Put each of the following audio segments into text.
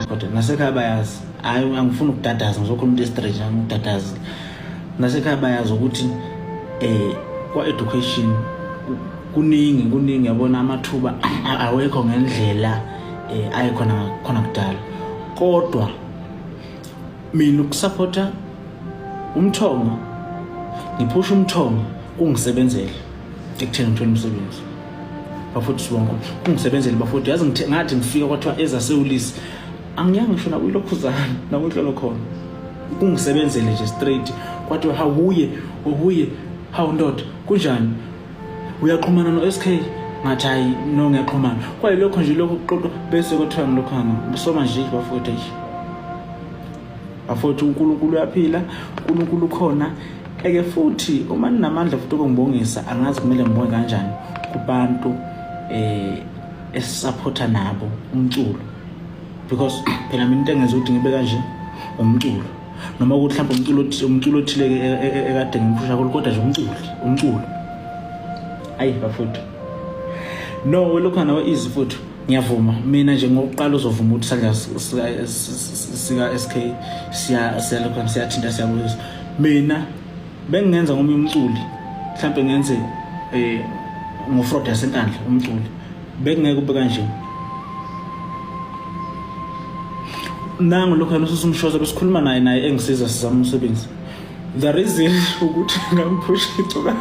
kodwa nasekhaya bayazi hayi angifuni ukudadaza ngizokhuluma into estraight angikudadazi nasekhaya bayazi ukuthi eh kwa-education kuningi kuningi yabona amathuba awekho ngendlela eh ayikhona khona kudala kodwa mina ukusupporta umthongo ngiphusha umthongo kungisebenzele ekutheni ngithole umsebenzi bafowethu sibonga ungisebenzeli bafowethu yazi ngathi ngifika kwathiwa ezasewulisi angiyanga ngisho nakuyilokhuzana nakunhlolo khona kungisebenzele nje straight kwathiwa hawuye ubuye hawu ndoda kunjani uyaqhumana no-sk ngathi hayi no ngiyaqhumana kwayilokho nje lokho kuxoxwa bese kwathiwa ngilokho hama soma nje bafowethu Bafowethu uNkulunkulu uyaphila, uNkulunkulu ukhona. Eke futhi uma ninamandla futhi okungibongisa angazi kumele ngibonge kanjani kubantu eh esisapotha nabo umculo because phela mina into engenza ukuthi ngibe kanje umculo noma ukuthi mhlawumbe umculo othile umculo othile e, e, e, ekade ngimphusha kulo kodwa nje umculo umculo ayi bafowethu no welokhu nawe easy futhi ngiyavuma mina nje ngokuqala uzovuma ukuthi sandla sika-sk siyalokhana siyathinta siyabuyisa mina bengingenza ngomunye umculi mhlawumbe ngenze um eh, ngofrod yasenkandla umculi bekungeke ube kanje nangu lokhu yena ususumshoza besikhuluma naye naye engisiza sizama umsebenzi the reason ukuthi ngamphusha icuka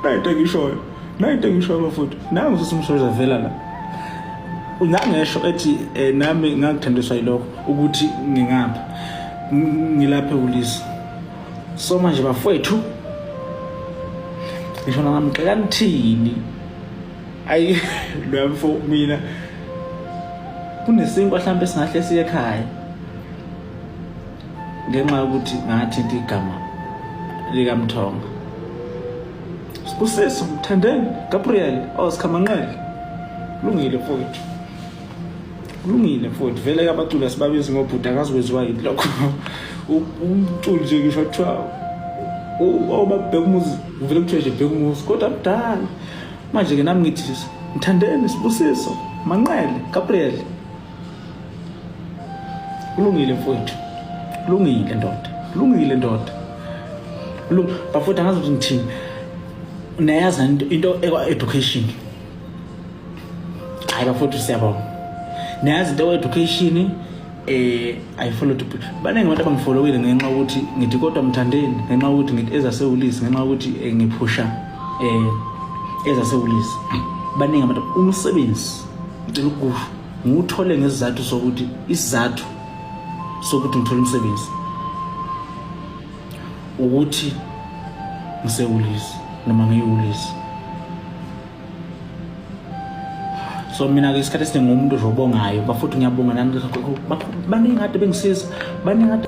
nayinto engishoyo nayo into engisho bafowethu nangu sisi umshoza vela la nangesho ethi eh, nami ngakuthandiswa yilokho ukuthi ngingapha ngilaphe ulisi so manje bafowethu ngisho nangamxeka nithini ayi lwamfo mina kunesinkwa mhlawumbe singahle siye ekhaya ngenxa yokuthi ngathinta igama likamthonga Sbusiso, Mthandeni, Gabriel, oh Sikhamanqele. Kulungile mfowethu. Kulungile mfowethu. Vele ke abaculi asibabizi ngobhuti akazi kwenziwa yini lokho. Umculi nje ngisho kuthiwa obabheka umuzi ngivele kuthiwe nje bheka umuzi kodwa mdala. Manje ke nami ngithi Mthandeni, Sbusiso, Manqele, Gabriel. kulungile mfowethu kulungile ndoda kulungile ndoda bafowethu angazi ukuthi ngithini nayazi into ekwa-education hayi bafowethu siyabonga nayazi into ekwa-education um eh, ayifollow to baningi abantu abangifolowile ngenxa yokuthi ngithi kodwa mthandeni ngenxa yokuthi ngithi ezasewulisi ngenxa yokuthi eh, ngiphusha um eh, ezasewulisi baningi abantu umsebenzi ngicela ukusho ngiwuthole ngesizathu sokuthi isizathu sokuthi ngithole umsebenzi ukuthi ngisewulisi noma ngiyiwulisi so mina-ke isikhathi esiningi umuntu robongayo bafuthi ngiyabonga nani baningi kade bengisiza baningi kade